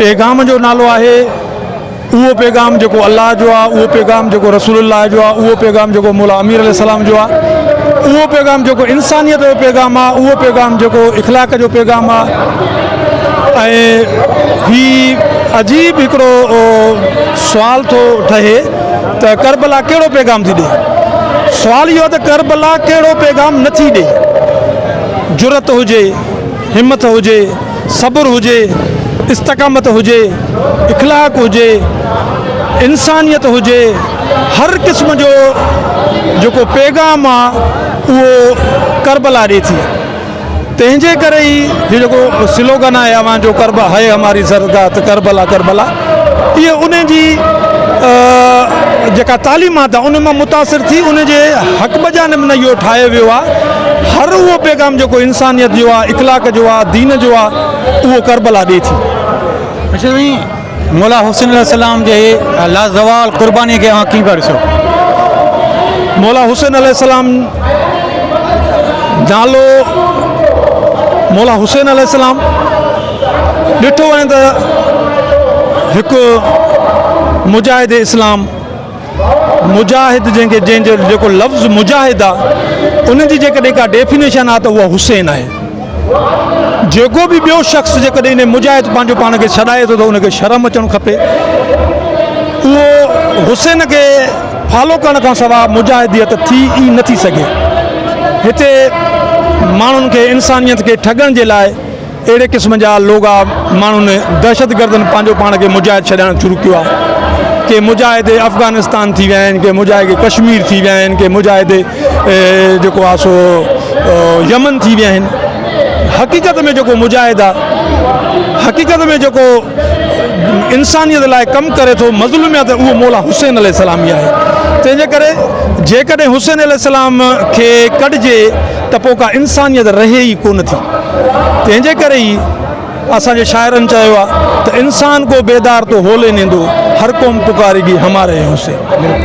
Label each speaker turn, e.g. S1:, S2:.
S1: پيغام جو نالو آهي اهو پيغام جيڪو الله جو آهي اهو پيغام جيڪو رسول الله جو آهي اهو پيغام جيڪو مولا امير عليه السلام جو آهي اهو پيغام جيڪو انسانيت جو پيغام آهي اهو پيغام جيڪو اخلاق جو پيغام آهي ۽ هي عجيب هڪڙو سوال ٿو ٺهي ته ڪربلا ڪهڙو پيغام ٿي ڏي سوال اهو ته ڪربلا ڪهڙو پيغام نٿي ڏي جرت هجي همٿ هجي صبر هجي، استقامت هجي، اخلاق هجي، انسانيت هجي، هر قسم جو جيڪو پيغام آ اهو ڪربلا ڏي ٿي. تنهن جي ڪري ئي هي جيڪو سلوگن آهي اوهان جو ڪربلا هي هماري زرگاهه ته ڪربلا ڪربلا. اهي انهن جي جيڪا تعليمات آهي ان مان متاثر ٿي ان جي حق بجانب نه اهو ٺاهيو ويو آهي هر اهو پيغام جيڪو انسانيت جو آهي اخلاق جو آهي دين جو آهي اهو ڪربلا ڏي ٿي. اچو سائين
S2: مولا حسين عليه السلام جي لازوال قرباني کي اوهان ڪيئن پيا ڏسو؟
S1: مولا حسين عليه السلام نالو مولا حسين عليه السلام ڏٺو وڃي ته هڪ مجاهد اسلام مجاهد جنهن کي جنهن جو جيڪو لفظ مجاهد آهي ان جي جيڪڏهن ڪا ڊيفينيشن آهي ته اها حسين آهي جيڪو به ٻيو شخص جيڪڏهن ان مجاهد پنهنجو پاڻ کي ڇڏائي ٿو ته ان کي شرم اچڻ کپي اهو حسين کي فالو ڪرڻ کان سواء مجاهديت ٿي ئي نٿي سگهي هتي ماڻهن کي انسانيت کي ٺڳڻ جي لاء اهڙي قسم جا لوگا ماڻهن دهشتگردن پنهنجو پاڻ کي مجاهد ڇڏائڻ شروع ڪيو آهي ڪي مجاهد افغانستان ٿي ويا آهن ڪي مجاهد ڪشمير ٿي ويا آهن ڪي مجاهد جيڪو آهي سو يمن ٿي ويا آهن حقيقت ۾ جيڪو مجاهد آهي حقيقت ۾ جيڪو انسانيت لاء ڪم ڪري ٿو مظلوميت اهو مولا حسين عليه السلام ئي آهي تنهنجي ڪري جيڪڏهن حسين عليه السلام کي ڪڍجي ته پوء ڪا انسانيت رهي ئي ڪونه ٿي. تنهن جي ڪري ئي اسان جي شاعرن چيو آهي ته انسان ڪو بيدار تو هولي نيندو، هر قوم پڪاريگي هماري هوسي.